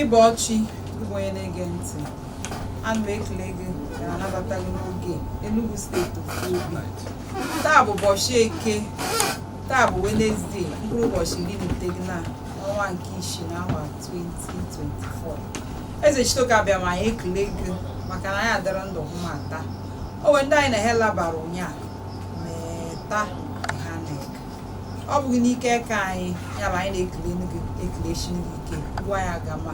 ị bọọ chi ị bụ onye na-ege ntị ana m ekele gị na-anabata gị n'oge Enugu steeti ofu obi taa bụ ụbọchị eke taa bụ wenezde mkpụrụ ụbọchị iri na iteghị na ọnwa nke isii na awa 2024 Ezechitoke Abịama anyị ekele gị maka na anyị adịrị ndụ hụ ma taa o nwere ndị anyị na ha labara ụnyaahụ meta ha na-eke ọ bụghị n'ike aka anyị ya bụ anyị na-ekele gị ekele chi gị ike gwa ya gama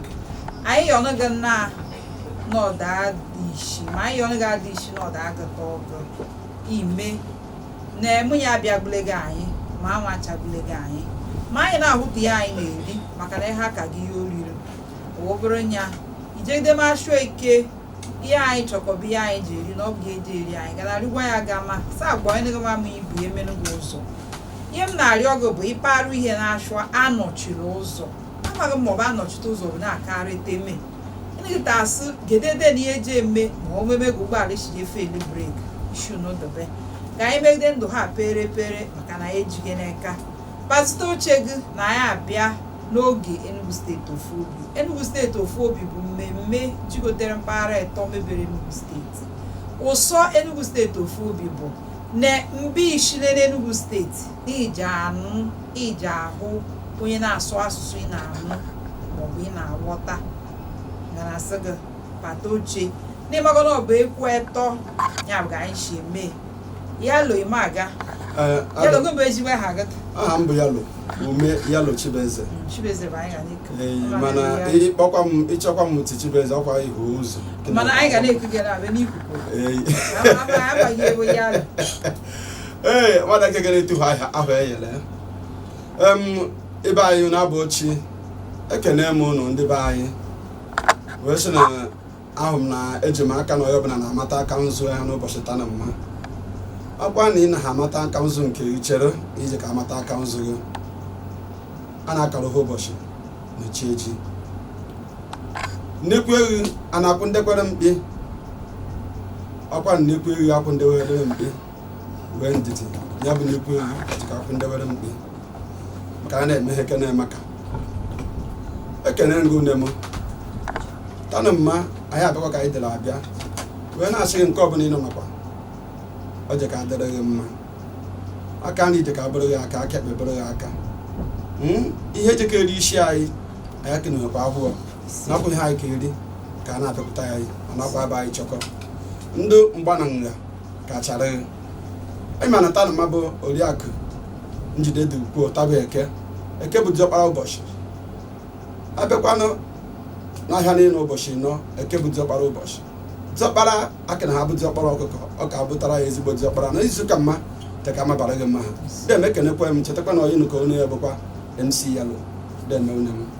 anyị yọ gị na n'ọda dị isi ma anyị yọ gị adị isi n'ọda agụta ọgụ ime na emu ya abịagbulegị anyị ma anwụ achagbulegị anyị ma anyị na-ahụta ya anyị na-eri maka na ihe aka gị ihe oriri wobere nya ijegide mashu eke ihe anyị chọkọba ihe anyị je-eri na ọ bụghị ihe je-eri anyị ga na-arịgwa ya ga ma saa agwa onye gama ma ibu emenu gị ụzọ ihe m na-arịọ gị bụ ịparụ ihe na-achụ anọchiri ụzọ amaghị m ma ọ bụ anọchite ụzọ bụ na-akarị teme ịnagịta asị gedede na ihe eji eme ma o meme gị ụgbọala isi efeeli breki ishu n'ụdọbe ka anyị megide ndụ ha pere pere maka na ejighị n'aka pazite oche gị na anyị abịa n'oge Enugu steeti ofu obi Enugu steeti ofu obi bụ mmemme jigotere mpaghara ịtọ mebere Enugu steeti ụsọ Enugu steeti ofu obi bụ na mbe i shile n'Enugu steeti i je-anụ i je-ahụ onye na-asụ asụsụ ị na-anụ maọbụ ị na-aghọta gara sị gị pata oche n'ị mago na ọ bụ ekwu etọ ya bụ ka anyị si eme Yalo Imaga. Eh, Yalo gị bụ ezigbo aha gị. Aha m bụ Yalo ume Yalo Chibeze. Chibeze bụ anyị ga n'iko. Eh, mana ị kpọkwa m ị chọkwa m tie Chibeze ọkwa ihu ụzọ. Mana anyị ga na-eku gị na-abịa n'ikuku. Eh. Abaghị ewu Yalo. Ee, nwada nke gara etuhu ahụ eyele. Ebe anyị na-abụ ochie ekene m ụnụ ndị be anyị wee sị na ahụ m na eji m aka na onye ọbụla na-amata aka nzu ya n'ụbọchị tanụ mma ọkwa na ị na ha amata aka nzu nke gị chere i jika amata aka nzu gị a na-akara ha ụbọchị na chi eji nnekwu ehi a na-akwụ ndekwere mkpi ọkwa nnekwu ehi akwụ ndekwere mkpi wee ndidi ya bụ nnekwu ehi jika akwụ ndewere mkpi maka a na-eme ha ekene maka ekene ngụ nne m tanụ mma anyị abịakwa ka anyị dere abịa wee na-asị gị nke ọbụla ị nọ nakwa ọ jika adịrị gị mma aka nri jika abụrụ gị aka aka ekpe bụrụ gị aka Hmm? ihe jika eri isi anyị anyị akenewekwa ahụhụ nakwa ihe anyị ka eri ka a na-apịpụta ya anyị ọ nakwa ebe anyị chọkọ ndụ mgba na nga kachara ị ma na tanụma bụ oriakụ njide dị ukwuu taa bụ eke eke bụ diọkpara ụbọchị abịakwanụ n'ahịa niile ụbọchị anọ eke bụ diọkpara ụbọchị diọkpara akị na ha bụ diọkpara ọkụkọ ọ ka bụtara ya ezigbo diọkpara na izu ka mma teka mabara gị mma ha dem ekenekwa m chetakwa na onye nụkọ ọnụ ya bụkwa mc yalo dem onye m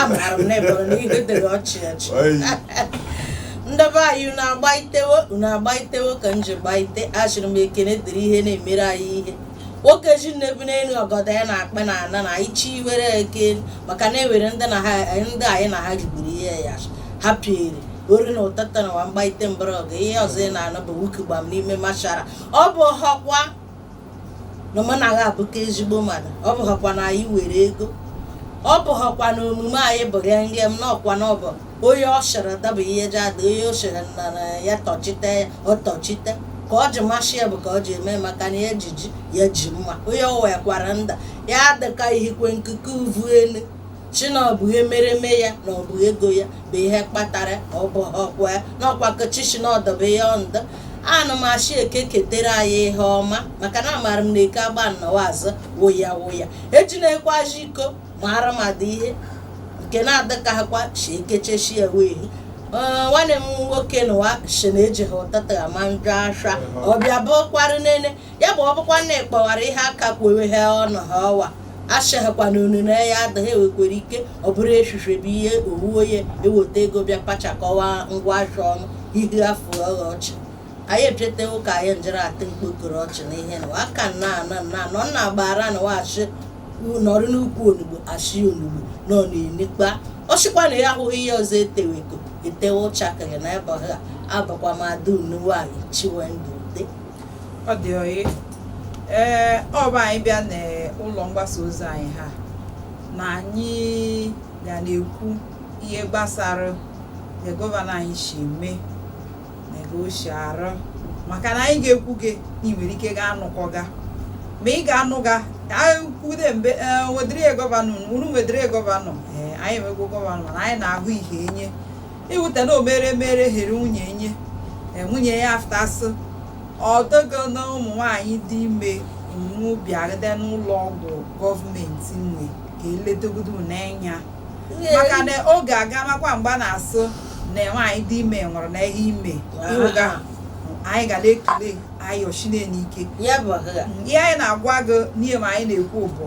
amara m n'eboro na ihe dịrị ọchị ọchị Oyi. ndebe anyị unu agbaitewo unu agbaitewo ka m ji gbaite asịrị m ekene dịrị ihe na-emere anyị ihe nwoke ji nnebu n'elu ọgọdọ ya na-akpụ na ana nna anyị chi were eke maka na ewere ndị anyị na ha riburu ihe ya ha piere ori na ụtata na wa mgbaite mgbọrọgwụ ihe ọzọ ị na-anụ bụ wuki gbam n'ime mortuary ọ bụhọkwa na mụ na ha abụka ezigbo mmadụ ọ bụghọkwa na anyị were ego ọ bụghọkwa na omume anyị bụ ya nge m nọ ọkwa na ọ bụ onye ọ sịrị daa bụ ihe ji ada onye ọ sịrị na na ya tọchite ya ọ tọchite ka ọ ji masị ya bụ ka ọ ji eme maka na ya jiji ya ji mma onye ọ wekwara nda ya adịka ihikwe nkuku uvu elu sị na ọ bụ ihe mereme ya na ọ bụ ego ya bụ ihe kpatara ọ bụhọkwa ya na ọkwa ka chi sị na ọ dobe ya ndụ ana m asị eke ketere anyị ihe ọma maka na amaara m na eke agba nnọwa azụ wụya wụya eji na-ekwe aji iko mara m adị ihe nke na-adịkaghịkwa chi ekechechi ya wee Ee, nwanne m nwoke nụwa sị na ejighị ụtata ama njọ asha ọbịa bụkwarụ nene ya bụ ọ bụkwa na ị kpọwara ihe aka kwewe ha ọnụ ha ọwa asịghịkwa na unu na ya adịghị ewekwere ike ọ bụrụ echiche bụ ihe owu onye eweta ego bịa kpachakọwa ngwa ahịa ọnụ ihe afọ ọghọ ọchị anyị echetewo ka anyị njere atị mkpokoro ọchị na ihe na aka nna ana nna anọ nna gbara na wachị nọrị n'ukwu onugbo a sị onugbo nọ na-enikpa ọ sịkwa na ya ahụghị ihe ọzọ eteweko etewe ụchakịrị na ebe ha abụkwa m ada unu nwanyị chiwendụ ọ dị oyi ee ọ bụ anyị bịa n'ụlọ mgbasa ozi anyị ha na anyị ga na-ekwu ihe gbasara na gọvanọ anyị si eme na aga o si arụ maka na anyị ga-ekwu gị na ị nwere ike ga anụkọ ga ma ị ga-anụ ga kwude mbe wedịrị gọvanọ unu wedịrị gọvanọ ee anyị emegwo gọvanọ na anyị na-ahụ ihe enye ịwụta na o mere mere here nwunye nye e, nwunye ya aftasị ọdọgo na ụmụ nwanyị dị ime nwe bịagide n'ụlọ ọgwụ gọọmenti nwe ka eledogodo n'anya maka na oge aga makwa mgbe a na-asị na nwaanyị dị ime nwụrụ na ihe ime ịwụga anyị ga na-ekele anyị oshinne ike ihe anyị na-agwa gị n'ihe ma anyị na-ekwu bụ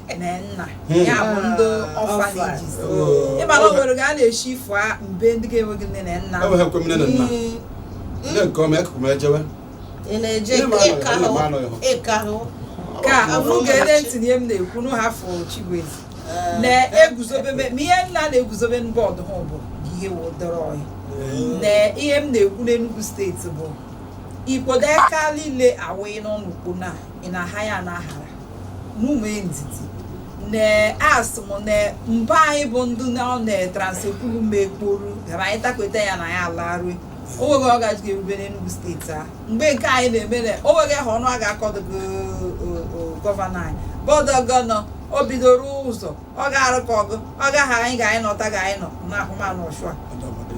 na nna hmm. ya bụ ndị ah, orphanages oh. ị mara o nwere ga a na-eshi ifụ a mbe ndị ga-enweghị nne na nna hmm. nne nke ọma ekụkụ m ejewe ị na-eje ịka hụ ka mụ ga-ele ntị ihe m na-ekwu nụ ha fụ Chibueze eh. na-eguzobe ma ihe nna na-eguzobe bọọdụ ha bụ ihe wodoro ọhịa hmm. na ihe m na-ekwu n'Enugu steeti bụ ikpodo aka niile awụghị n'ọnụ ukpo na ị na-aha ya na ahara mume ndidi na asị m na mba anyị bụ ndị na ọ na-etransepulu ma ekporu gara anyị takweta ya na ya alarue o nweghị ọ gaji ga-erube n'Enugu steeti a mgbe nke anyị na-eme na o nweghị ha ọnụ a ga-akọdogo gọvanọ anyị bọdụ gọnọ o bidoro ụzọ ọ ga-arụ ka ọgụ ọ gaghị anyị ga anyị nọta ga anyị nọ na ahụmanụ ọchụa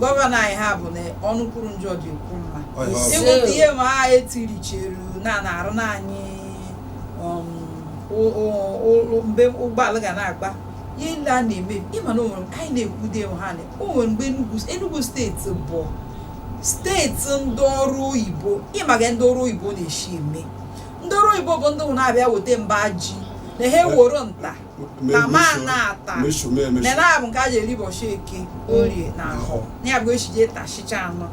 gọvanọ anyị ha bụ na ọnụ kwuru njọ je-ekwu mma Ọ ya ọ bụ. ị nweta ihe ma a etiricheru na na-arụ na anyị um, mgbe ụgbọala ga na-agba ihe ndị a na-eme ị ma na o nwere anyị na-ekwude ha na o nwere mgbe Enugu steeti bụ steeti ndị ọrụ oyibo ị ma ga ndị ọrụ oyibo na-eshi eme ndị ọrụ oyibo bụ ndị na-abịa weta mba ji na ha eworo nta na ma na-ata na na-abụ nke a ji eri ụbọchị Eke Orie na Ahọ ya bụ echije tashicha anọ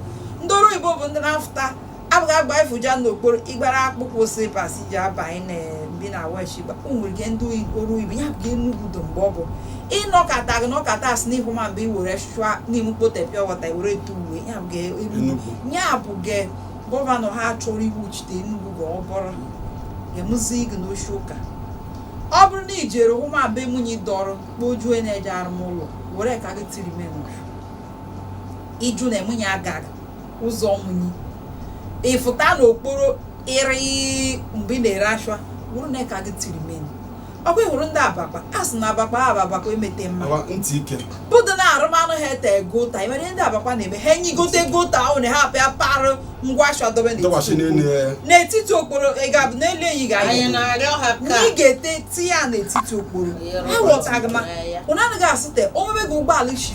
ndị ọrụ oyibo bụ ndị na-afụta abụghị agba efuja n'okporo ị gbara akpụkpọ slippers ji abanye na mbi na wesh nwere ike ndị ọrụ oyibo ya bụ Enugu dọ mgbe ọ bụ ịnọkọta gị nọkọta asị n'ihu ma mgbe i were chụa n'ime mkpote pịa wọta i were etu uwe ya bụ Enugu ya bụ ge gọvanọ ha chọrọ iwuchite Enugu ga ọ bụrụ ga-emụzi gị n'ochi ụka ọ bụrụ na i jere hụ ma be munyi dọrọ kpojuo na-eje arụma ụlọ were aka gị tiri menụ iju na munyi agaghị ụzọ munyi ị fụta n'okporo ịrị mgbe ị na-ere ashwa bụrụ na aka gị tiri meni ọ kwa ị hụrụ ndị Abakpa a sị na Abakpa a Abakpa emete mma Awa ntị ike. bụdụ na arụmanụ ha ete gota i nwere ihe ndị Abakpa na-eme ha enyi gote gota ahụ na ha abịa parụ ngwa ashwa dobe Dọwachi n'elu n'etiti ya. okporo. n'etiti okporo ị ga-abụ n'elu enyi ga anyị na-arịọ ha na ị ka ga-ete tinye ya n'etiti okporo Ihe ha rọba ghọtaghị ma tinye ya. ụnụ anaghị asị te o nwe be gị ụgbọala isi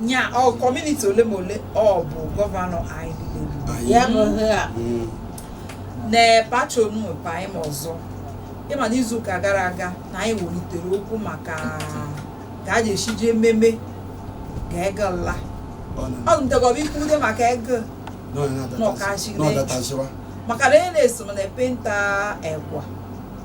nya ọ community ole ma ole ọ bụ gọvanọ anyị niile ya bụ ihe a Mm. na pachonu pa anyị ma ọzọ ị ma na izu ụka gara aga na anyị welitere okwu maka ka a ga-esi ji ememe ga ego nla Ọ na- ọ ntegọba ikwude maka ego na ọ na-adata- N'ọkachị na ọ datasịwa. maka na onye na-eso m na penta egwa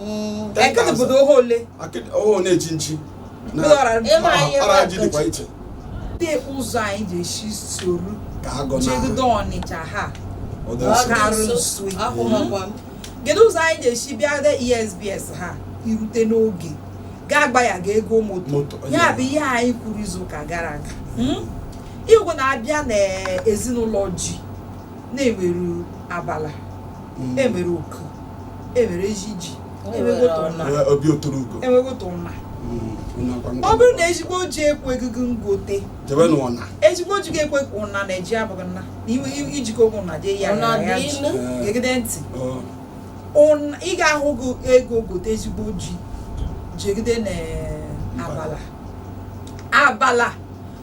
Mm. Ten Ekene thousand. bụ oho ole Akịdị- oho na-echi nchi na Mkpụrụ ọra Ịma ọra- ihe ọra ji mmadụ dịkwa iche Ndị ụzọ anyị ji esi soro jegodo Ọnịcha ha ga-arụ nso kedu ụzọ anyị ji esi bịa de ESBS ha irute n'oge gaa gba ya ga ego moto ya bụ ihe anyị kwuru izu ụka gara aga igwe na-abịa n'ezinụlọ ji na-enwere abala hmm. e nwere oku e nwere ezi ji e nwegote ụna hmm, ọ bụrụ na ezigbo ji ekweghị gị ngote ezigbo ji ekwe ụna na ji abụghị nna na ijikọ ụkwụ na jee ya gegide ntị ị ga-ahụ ego gote ezigbo ji jegide na abala abala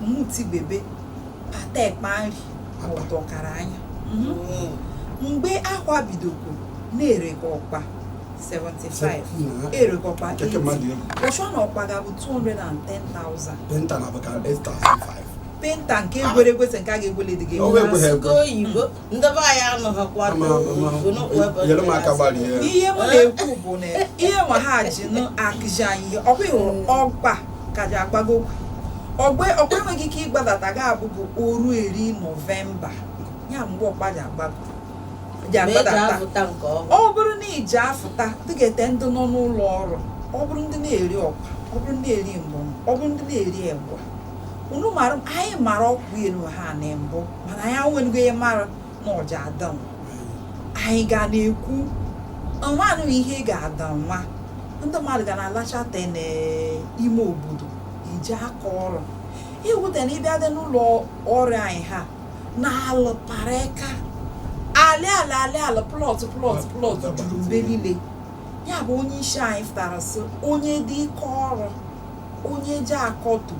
mmuti bebe pata ekpa nri ọtọ kara anya mgbe akwa bidokwu na-ere ka ọkpa 75 ere ka ọkpa 80 ọchọ na ọkpa ga-abụ 210,000 penta na abụka 8,500 penta nke e gwere egwese nke a ga-egwele dị gị ndị be anyị anụghịkwa nyere m aka gbalie ya. ihe m na-ekwu bụ na ihe nwa ha ji akụzi anyị ihe ọkwa ị hụrụ ọkpa ka ji agbago okwu. ọkpa enweghị ike ịgbadata ga-abụ bụ oru eri Nọvemba ya mgbe ọkpa ji agbadata ọ bụrụ na iji afụta ndị ga-ete ndị nọ n'ụlọ ọrụ ọ bụrụ ndị na-eri ọkpa ọ bụrụ ndị na-eri mbọ ọ bụrụ ndị na-eri egwa unu mara anyị mara ọkụ elu ha na mbụ mana anyị anwenugo ihe mara na ọ ja-adanwu anyị ga na-ekwu ọnwanụ ihe ga-ada nwa ndị mmadụ ga na-alachata n'ime obodo iji aka ọrụ iwute na ị bịa dị n'ụlọ ọrụ anyị ha na-alụ pareka alị ala alị ala plọt plọt plọt juru mgbe niile ya bụ onye isi anyị fụtara sị onye dị ike ọrụ onye ji akọtu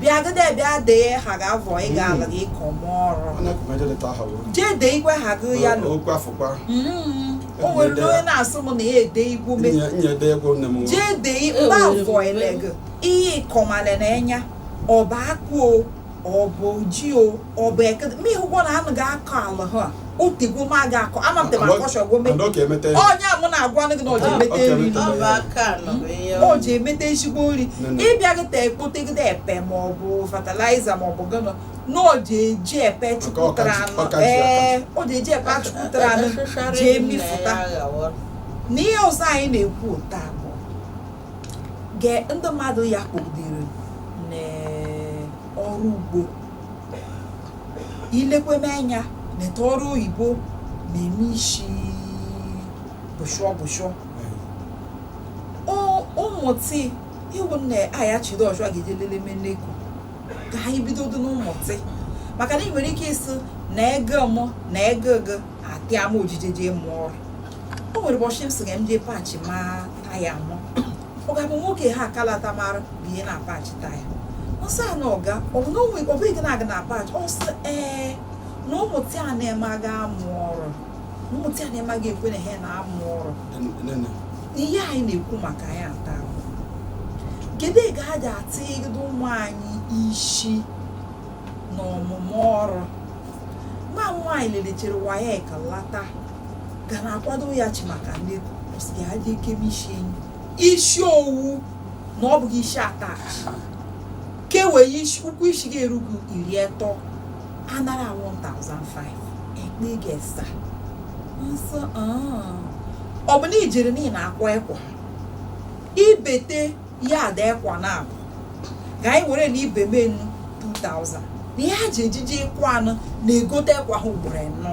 bịagide bịa dee ha ga-avọ ị ga-ala gị ka ọma ọrụ onye kwụkwọ eje leta aha wụrụ jee dee igwe ha gị ya lụ okwu afọkwa Mm, o nwere na onye na-asị m na ya ede igwu me nye nye ede egwu nne m jee dee E mba nwere avọ mgbe- ele gị ihe ịkọmale na enya ọba akpụ o ọba oji o ọ bụ ekede ma ị hụgwo na anyị ga-akọ ala ha o tegwo ma ga akọ ama m tebara akọshọgwo mee onye mụ na-agwanụ gị na o ji emete nri o ji emete ezigbo nri ị bịa gị ta ekpotegide epe ma ọ bụ fatịlaịza ma ọ bụ gịnị na o ji eji epe chụpụtara anụ ee o ji eji epe achụpụtara anụ ji emifụta na ihe ọzọ anyị na-ekwu taa bụ ndị mmadụ ya kpọgidere n'ọrụ ugbo ilekweme anya neta ọrụ oyibo na-eme isi bụshụọ bụshụọ Ọ- ụmụtị iwu nna aya chiri ọchụ a ga-eje lele meneko ka anyị bidodo n'ụmụtị maka na ị nwere ike ịsị na ego mụ na ego gị atịa m ojije jee mụọ ọrụ o nwere ụbọchị m sị ka m jee paachịma taya mụ ọ ga-abụ nwoke ha akalata mara bụ ye na-apachi taya ọsọ a na ọga ọ bụ na onwe ọ bụghị na-aga na apachi ọsọ ee na ụmụtị a na-emaghị amụ ọrụ na ụmụtị a na-emaghị ekwe na ha na-amụ ọrụ ihe anyị na-ekwu maka anyị ata kedu ka a ga-atịgodo ụmụ anyị isi na ọmụmụ ọrụ nwa m nwaanyị lelechere wayek lata ga na-akwado ya chi maka ndị kwụsịrị ya dị ekeme isi enyi isi owu na ọ bụghị isi atachi kewe isi ụkwụ isi ga-erugo iri atọ anara 1500 ekpe ga-esa nsọ ọ bụ na ijere n'ihi na-akwa ekwa ibete ya ada ekwa na abụ ka anyị were na ibe menu 2000 na ihe a ji ejiji ịkwa anụ na-egote ekwa ha ugboro anọ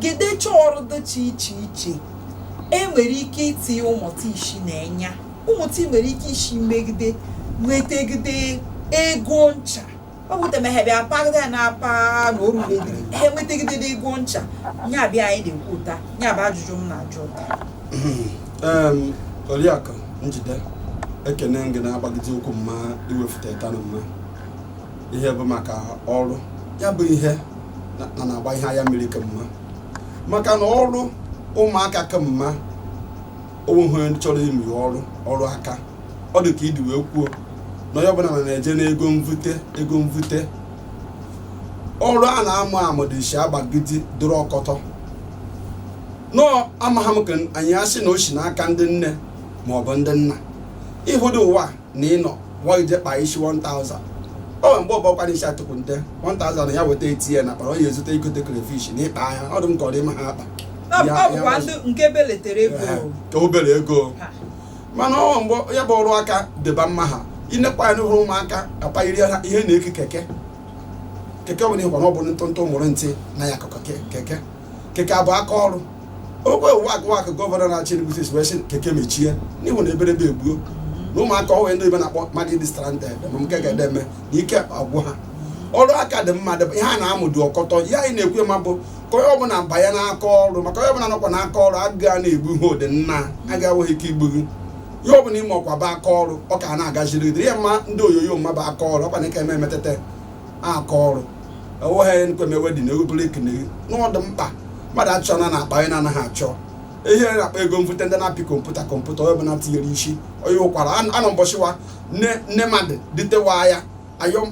gedecha ọrụ dịcha iche iche e nwere ike itinye ụmụta isi n'enya ụmụta nwere ike isi megide nwetagide ego ncha ọ bụ temehebe apagide na apa na oru mediri ha enwetagide ego ncha nya bụ ihe anyị na-ekwu taa nya bụ ajụjụ m na-ajụ taa oriakụ njide ekene gị na-agbagide okwu mma iwefute ta na mma ihe bụ maka ọrụ ya bụ ihe na na-agba ihe anya mmiri kemma maka na ọrụ ụmụaka kemma onweghị onye chọrọ ime ọrụ ọrụ aka ọ dị ka idi wee kwuo na onye ọbụla na na-eje n'ego mvute ego mvute ọrụ a na-amụ amụ dị isi agbagide dụrụ ọkọtọ nọọ amaghị m ka anyị asị na o si n'aka ndị nne ma ọ bụ ndị nna ịhụdị ụwa na ịnọ nwa ije kpaa isi 1000 o nwe mgbe ọ bụkwa na isi atụkwu nte 1000 ya weta etinye na kpara ọ ya ezute igote crayfish na ịkpa ahịa ọ dụ m ka ọ dị ma ha akpa ka obere ego mana o nwe mgbe ya bụ ọrụ aka dịba mma ha inekwa ya n'ụhụrụ ụmụaka akpayiri ha ihe na-eke keke keke ọ bụla ịhụkwa na ọ bụ ntụntụ ụmụ ntị na-anyakọ keke keke abụ aka ọrụ ogbe wak wak gọvanọ na-achị Enugu steeti wee sị keke mechie n'ihu na eberebe egbuo na ụmụaka o nwe ndị ibe na-akpọ mmadụ ịdị stranded ma nke ga-ede eme na ike agwụ ha ọrụ aka dị mma dị ihe a na-amụ dị ọkọtọ ihe anyị na-ekwu ma bụ ka onye ọbụla banye n'aka ọrụ maka onye ọbụla nọkwa n'aka ọrụ agụụ na-egbu ihe ụdị na agụụ enweghị ike igbu gị ihe ọbụla ime ọkwa bụ aka ọrụ ọ ka na-agaziri gị ihe mma ndị oyoyo mma bụ aka ọrụ ọkwa na ike eme emetete aka ọrụ enweghị nkwemewe dị na ewepụrụ ekene gị n'ọdụ mkpa mmadụ achọ na na-akpa onye na-anaghị achọ ihe na-akpa ego mfute ndị na-apị kọmputa onye ọbụla tinyere isi onye ụkwara anọ mbọchịwa nne mmadụ dịtewa ya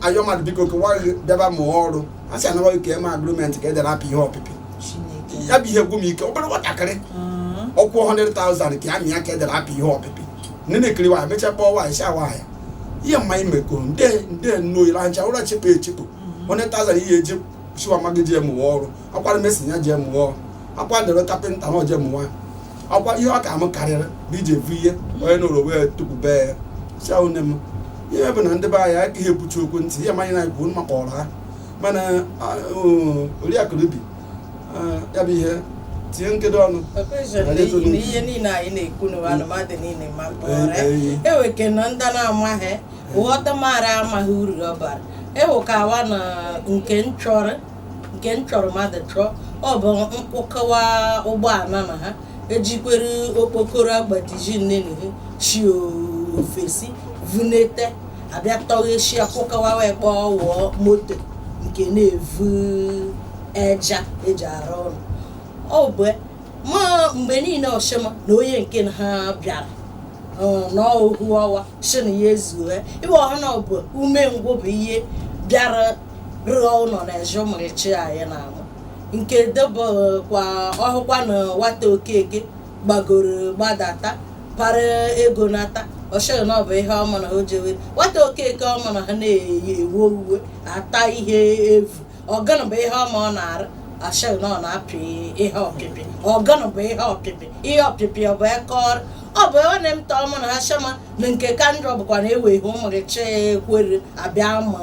ayọ mmadụ biko kewa gị bịaba mụọ ọrụ a sị anaghị ka eme agrimenti ka e dere apị ihe ọpịpị Chineke. ya bụ ihe gwụ m ike obere nwatakịrị ọ kwụ 100,000 ka ya mịa ka e dere apị ihe ọpịpị nne na-ekiri nwaanyị mechaa kpọọ nwaanyị sị nwaanyị ihe mma ime ko nde nde nno ile ancha ụra chepụ echepụ mm-hmm. onye tazara ihe eji siwa ma gị jee mụwa ọrụ akwara mesi ya jee mụwa ọrụ akwa dere kapịnta na o jee mụwa akwa ihe ọ ka m karịrị bụ ije evu ihe onye nụrụ wee tukwube ya sị ahụ nne m ihe bụ na ndị be anyị agaghị ebuchi okwu ntị ihe mụ na ya na-ekwu mma kpọrọ ha mana oriakụ rubi ya bụ ihe tinye nkedo ọnụ ihe niile anyị na-ekwu na anụmadụ niile ma mpụghara eweke na ndị na-amaghị ghọta mara amaghị uru ọ bara ewekawa na nke nchọrọ mmadụ chọọ ọ bụ nkwụkọwa ụgbọala na ha ejikwere okpokoro agbajiji nne na ihe shi ofesi vunete abịa tọghesi akwụkọwa wee kpọọ wụọ moto nke na-evu eja eji arụ ụlọ ọ bụ ma mgbe niile ọ shị m na onye nke ha bịara n'ohu ọwa sị na ya ezue ịwa ọha na ọ bụ umengwụ bụ ihe bịara rụọ ụlọ na eje ụmụrịchi anyị na-amụ nke debekwa ọ hụkwa na nwata okeke gbagoro gbadata para ego nata ọ shị gị na ọ bụ ihe ọma na o jewe nwata okeke ọ ma na ha na-eyi ewe uwe ata ihe evu ọ gụnụ bụ ihe ọma ọ na-arụ a shị gị na ọ na-apị ihe ọpịpị ọ gụnụ bụ ihe ọpịpị ihe ọpịpị ọ bụ eke ọrụ ọ bụ ebe na emta ọmụ na ashama na nke ka njọ bụkwa na eweghị ụmụrịchi ekwere abịa amụ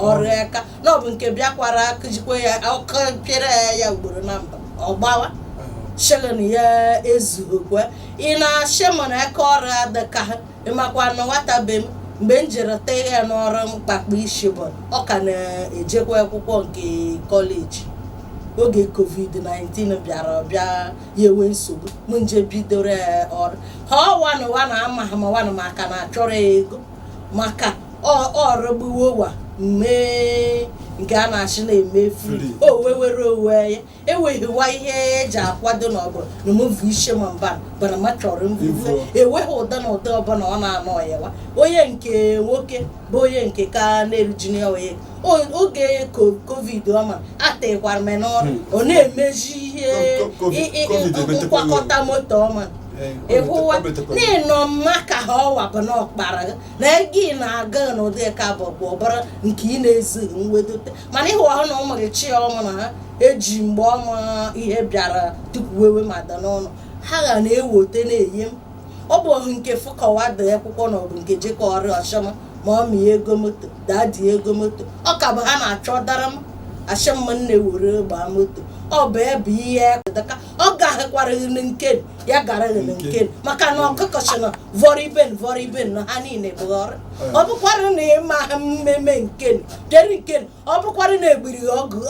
ọrụ aka na ọ bụ nke bịakwara akụjikwa ya ọkụ pịara ya ugboro na mba ọ gbawa shị gị na ya ezughịkwa ị na-ashị mụ na aka ọrụ adịka ha ị makwa na nwata be m mgbe m jere tee ya n'ọrụ mkpakpa ishi bụ ọ ka na-ejekwa akwụkwọ nke kọleji oge covid-19 bịara ọ bịa ya enwe nsogbu m jee bidoro ya ọrụ ha ọwanụwa na amaghị m nwanụ maka na achọrọ ego maka ọ rụgbuwo wa mee nke a na-ashị na-eme fri o wewere onwe ya eweghịwa ihe eji akwado na ọbụla na mvu ishe ma mba bana ma chọrọ mvufe eweghị ụda na ụda ọbụla ọ na-anọ yawa onye nke nwoke bụ onye nke ka na-eruju ya onye oge covid ọma atekwara m n'ọrụ hmm. ọ na-emezi ihe nkwakọta moto ọma ịhụwa n'ịnọ mma ka ha ọwa bụ na ọkpara na ego ị na-aga n'ụdị ka bụ bụ ọbara nke ị na-ezughị nwedote mana ịhụ ahụ na ụmụ gị chi ọma na ha eji mgbe ọma ihe bịara tupu wewe ma da n'ọnụ ha ga na-ewote na-enye m ọ bụ ọhụ nke fụkọwa dị akwụkwọ na ọbụ nke jekọ ọrụ ọ shị m mummy ego moto daddy ego moto ọ ka bụ ha na-achọ dara m achọ mma nne were gbaa moto ọ bụ ebe ihe daka ọ gaghịkwara gị na nke nụ ya gara gị na nke nụ maka na ọkụkọ sị na vọrọ ibe nụ vọrọ ibe nụ na ha niile bụ ọrụ ọ bụkwara na ịma ha mmemme nke deri nke ọ bụkwara na egbiri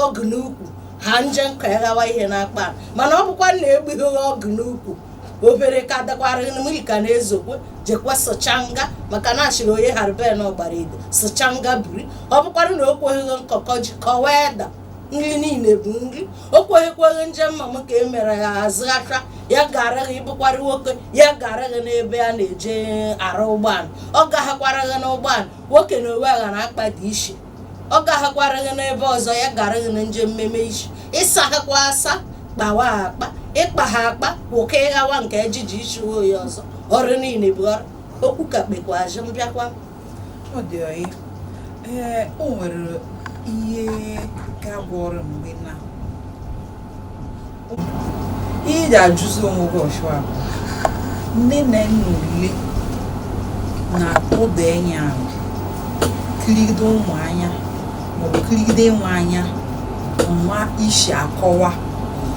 ọgụ n'ukwu ha nje nka ya ghawa ihe n'akpa mana ọ bụkwa na egbughị ọgụ n'ukwu obere ka dakwara mmiri ka na-ezokwe jekwa sụchanga maka na a shịrị onye harben ọgbara ide sụchanga biri ọ bụkwara na o kweghị nkọkọ ji kọwa ede nri niile bụ nri o kweghịkwa nje mma m ka e mere ya azụghacha ya gara gị ị bụkwara nwoke ya gara gị n'ebe a na-eje arụ ụgbọala ọ gaghịkwara gị n'ụgbọala nwoke na owe aghara akpa dị ishi ọ gaghịkwara gị n'ebe ọzọ ya gara gị na nje mmemme ishi ị saghịkwa asa kpawa akpa ịkpa ha akpa wụka ịghawa nke ejiji ishi oyi ọzọ ọrụ niile bụ ọrụ okwu ka kpekwa azụ m bịakwa ọ dị ọyị ee o nwere ihe ga-agwa ọrụ mgbe na ihe ị ga-ajụzi onwe gị ọchụwa bụ nne na nna ule na-atụda enya ahụ kirigide ụmụ anya maọbụ kirigide nwa anya nwa isi akọwa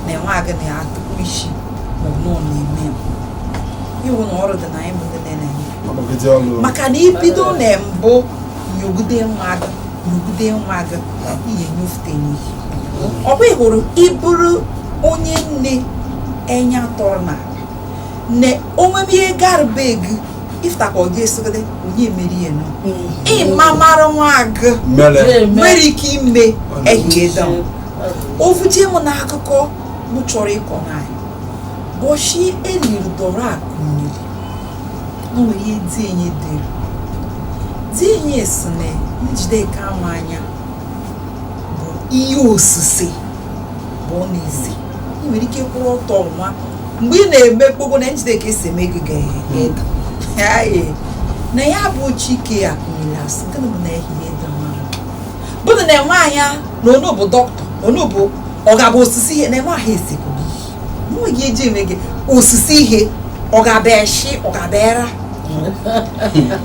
na enwe agị na ya atụkwa isi maọbụ na ọ na-eme ya iwu na ọrụ dị na anyị bụ ndị na-enye maka na ibido na mbụ nyogide nwa gị nyogide nwa gị ị nyofute n'ihi ọ bụ hụrụ ịbụrụ onye nne enya tọrọ na na onwebe ihe gara be gị ị fụtakwa ọ ga-esogide onye mere ihe nọ ịma mara nwa gị nwere ike ime ehihie dọm ovuje m n'akụkọ m chọrọ ịkọ n'anyị bọchi eliri dọrọ akụ mmiri nwere ihe di enyi dere di enyi sị na Njideka ama anya bụ ihe osise bụ ọ na-ese ị nwere ike kwụrụ ọtọ nwa mgbe ị na-eme gbogbo na Njideka esi eme gị ga-eda na ya bụ Chike a nyere asị gịnị bụ na ehihie dị mma bụrụ na enwe anya na onu bụ dọkịta onu bụ ọ ga-abụ osise ihe na nwa ahụ esekwu n'ihi nweghị eji eme gị osise ihe ọ ga-abịa eshi ọ ga-abịa era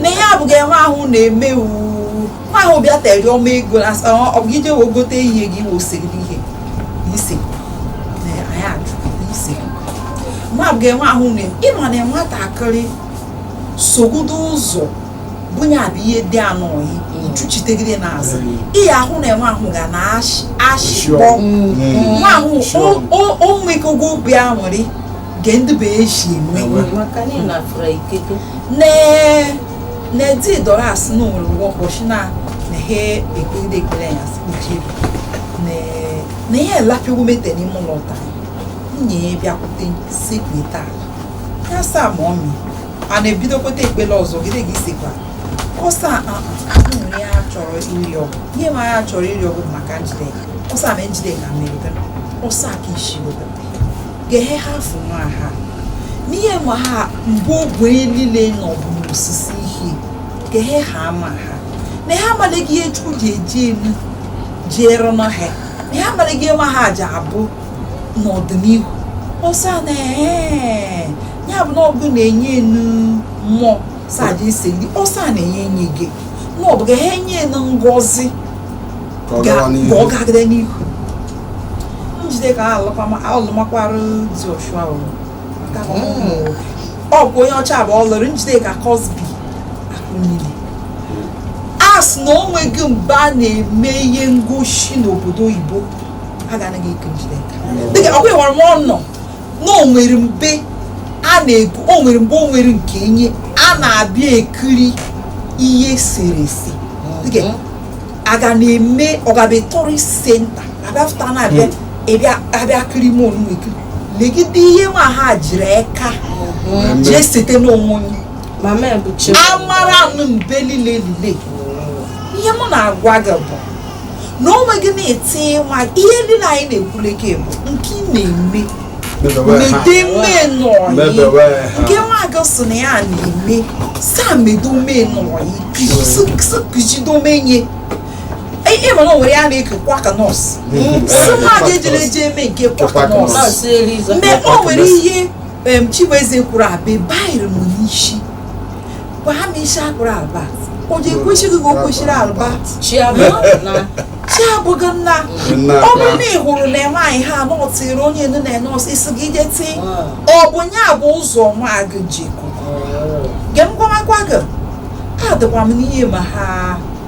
na ihe abụghị nwa ahụ na-eme uu nwa ahụ bịa tere ọma ego na asa ọ bụ ije wee gote ihe gị wee ose gị ihe ise na anyị ajụ ise nwa abụghị nwa ahụ na ịma na nwatakịrị sogodo ụzọ bunye abụ ihe dị anụ oyi ichuchitegide n'azụ ihe ahụ na enwe ahụ ga na-ashịkpọ nwa ahụ o mekogo obi a nwere nke ndị bụ eji enwe na di dọrọ asị na onwere ụgwọ ụbọchị na na ha ekpegide ekpere ya sị kpuchie na ihe elapịwo mete n'ime ụlọ taa nwunye ya bịakwute sekpeta ya saa ma ọ mee a na-ebidokweta ekpele ọzọ gide gị sikwa ọsa nwere ya chọrọ iri ọgwụ ihe ma ya chọrọ iri ọgwụ maka njideka ọsa ma njideka mere ọsa ka isi obodo ga-ehe ha afụ nwa ha n'ihe ma ha mbụ ogwe niile nọ bụ n'osisi ihe ga-ehe ha ama ha na ha amalighị ihe chukwu ji eji elu jiere na ha na ha amalighị ihe nwa ha ji abụ n'ọdịnihu ọsọ a na ee ya bụ na ọbụ na-enye enu mmụọ saja ise ndị ọsa na-enye enye gị na ọ bụ ga ha enye enu ngozi ka ọ gagide n'ihu njideka alụmakwara di ọshụa ọ bụ onye ọcha bụ ọ lụrụ njideka crosby akunyili a sị na o nweghị mgbe a na-eme ihe ngosi n'obodo oyibo a ga-anaghị eke njideka dịka agwawara m ọnọ na o nwere mbe a na-ekwu o nwere mgbe o nwere nke enye a na-abịa ekiri ihe e sere ese dịka aga na-eme ọgabe tourist center abịafụta na-abịa abịa kiri m onu ekiri legide ihe nwa ha jiri eka jee sete n'onwe ya amara nụ mbe lile lile ihe m na-agwa gị bụ na onwe gị na-eti nwa ihe ndị na anyị na-ekwuleke bụ nke ị na-eme mede menọyi nke nwa gị sị na ya na-eme saa medo menọyi kụzido menye ihe mana o nwere ya na-eke kwaka nọọsụ si nwa gị ejere eje eme nke kwaka nọọsụ mgbe o nwere ihe chibueze kwuru abịa bayiri m n'isi gwa ha ma isi akpụrụ albert o ji ekwesịghị ka o kwesịrị albert chi abụghị nna ọ bụrụ na ị hụrụ na nwaanyị ha nọtịrị onye nụ na nọọsụ isi gị ije tii ọ bụ ya bụ ụzọ nwa gị ji ge m gwamakwa gị adịkwa m n'ihe nwa ha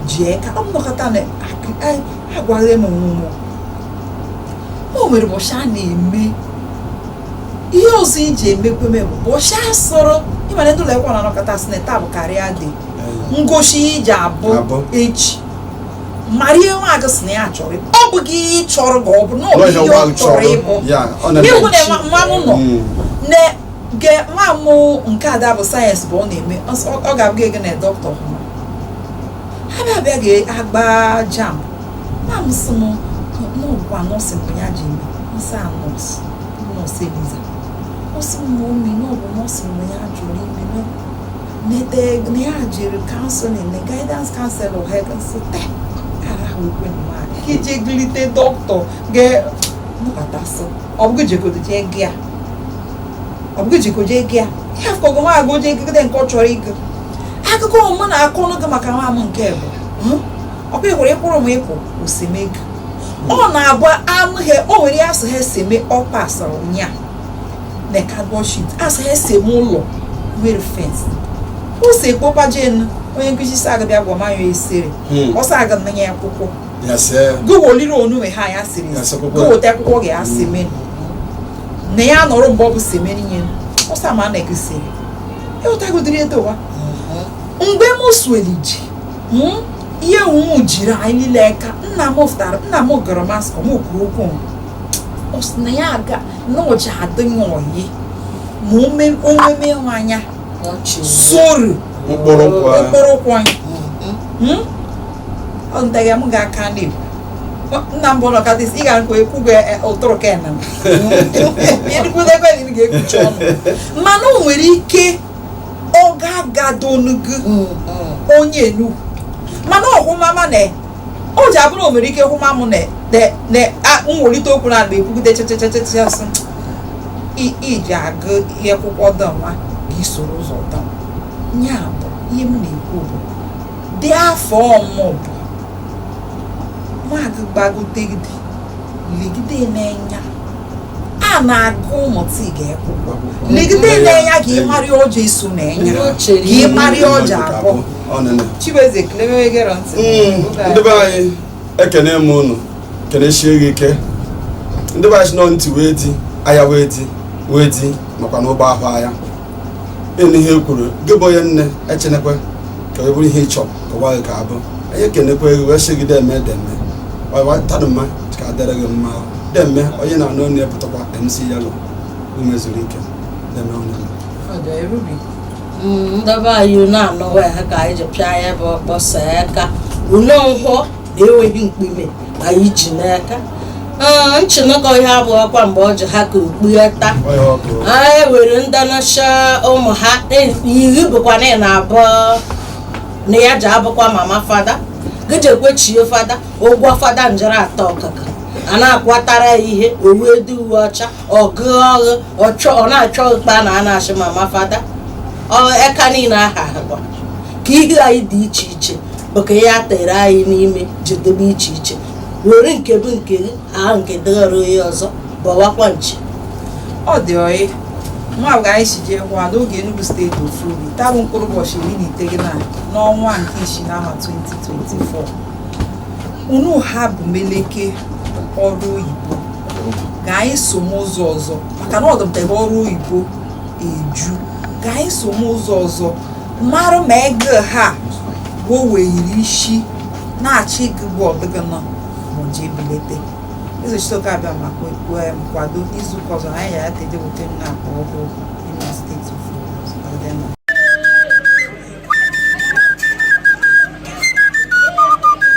ji eka ọ nọkọta na agwaghị m nwụmụ o nwere ụbọchị a na-eme ihe ọzọ i ji emekwe m bụ ụbọchị a sịrị ị ma na ndị ụlọ akwụkwọ na-anọkọta sị na taa bụ career day ngosi iji abụ Abụ. echi mara ihe nwa gị sị na ya chọrọ ịbụ. ọ bụghị ihe ị chọrọ ka ọ bụrụ na ọ bụ Nwaanyị ihe ọ nwaanyị chọrọ chọrọ. ịbụ Ya, ọ na- ịhụ na nwa- nwa m nọ Mm. na ge nwa m nke ada bụ sayensị bụ ọ na-eme ọ sị, ọ- ọ ga-abụ gynae dọkịta ọhụrụ ha bịa bịa ga-agba jamb na m sị m na ọ bụkwa nọọsụ bụ ya ji eme m sị ya nọọsụ nọọsụ eliza ọ sị m mọmị na ọ bụ nọọsụ mgbe ya jụrụ ime mete na ya jiri kanselin na gaidans kanselọ ha gasị te ara ha ukwe mmadụ ka ije glite dọkịta ga-ebubatasị ọ bụghị jegodo jee gị a ọ bụghị jegodo jee gị a ihe afọ gị nwa gị jee gụgide nke ọ chọrọ ịgụ akụkọ mụ na-akọnụ gị maka nwa m nke bụ hmm? ọ bụ ịhụrụ ịkwụrụ m ịpụ o semego ọ na-abụ anụ he o nwere ihe a sị ha seme ọpa asara ụnya na kadbọd shit a sị ha seme ụlọ nwere fens ụsọ ekpopa jen onye nkụzi sị ya ga bịa gwa ma ya esere hmm. ọ sị ya ga nna ya akwụkwọ gowoliri onume ha ya siri gowota akwụkwọ gị ya hmm. semeni na ya nọrọ mgbe ọ bụ semeni nye ọ sị m na i kwesịrị ịghọtagodiri edowa mgbe m sweliji hmm? ihe ụmụ jiri anyị niile aka nna m fụtara nna m gara maskọm kwuru okwu ọ sị na ya aga na ụja adịghị oyi ma omeme ịhụ anya soro mkpụrụ ụkwụ anyị hmm? ọ ntaghị m ga-aka n'igbo nna m bụ ụlọ katịs ị ga-akwa ekwugo e, ụtụrụ ka enam ga-ekpuchi ọnụ mana o nwere ike ọ ga-agado onu gị mm, mm. onye Enugu mana ọ hụma m na o ji abụrụ o nwere ike hụma m na m welite okwu na agba ekwugide chechechechechesị iji agụ ihe akwụkwọ dọnwa gị soro ụzọ dọm ya bụ ihe m na-ekwu bụ dị afọ ọmụ bụ nwa gị gbagotegide legide n'enya a na-agụ ụmụta ị ga-ekwu legide n'enya ka ị marị ọ ja iso n'enya ka ị marị ọ ja abụ Chibueze ekele mewe gere ntị mm, ndị be anyị ekene m unu kenesie gị ike ndị be anyị si nọ ntị wee di aya wee di wee di makwa n'ụgbọ ahụ anya ịnụ ihe e kwuru gị bụ onye nne echenekwe ka ọ bụrụ ihe ị chọ ka nwa gị ga-abụ anyị ekenekwa gị wee sị gị deme deme taa dụ mma ka adịrị gị mma deme onye na-anụ onye pụtakwa mc yellow umezuruike deme onye ndị be anyị na-anọwa ya ka anyị ji pịa ya bụ ọkpọsa ya ka ule nkwọ enweghị mkpume anyị ji n'aka Ah, nchinụkọ ihe abụ ọkwa mgbe ọ ji ha ka okpugheta Onye ọkụ. ha ewere ndanacha ụmụ ha iri bụkwa na ị na-abụ na ya ji abụkwa mama fada gịjekwechie fada ụgwọ fada njere atọ ọkụkọ a na-akwatara ya ihe owedu uwe ọcha ọgụ ọghụ ọchọ ọ na-achọ ụkpa na a na-asị mama fada ọ eka niile aha ahụkwa ka ihe anyị dị iche iche bụ ka ya tere anyị n'ime jedebe iche iche were nke bụ nke gị aha nke dịghara onye ọzọ bọwakwa nchi ọ dị ọyị nwa bụ ka anyị si jee nwa n'oge Enugu steeti ofu obi taa bụ mkpụrụ ụbọchị iri na iteghịna n'ọnwa nke isii n'ahọ 2024 unu ha bụ meleke ọrụ oyibo ka anyị so m ụzọ ọzọ maka na ọdụmtebe ọrụ oyibo eju ka anyị so m ụzọ ọzọ mara ma ego ha bụ weere isi na-achọ gị bụ ọdịgị nọ ma ji ebilite ezochitoke abịa ma nkwado n'izu ụka ọzọ anyị ya ya ka ejewute m na-akpọ ọhụụ imo steeti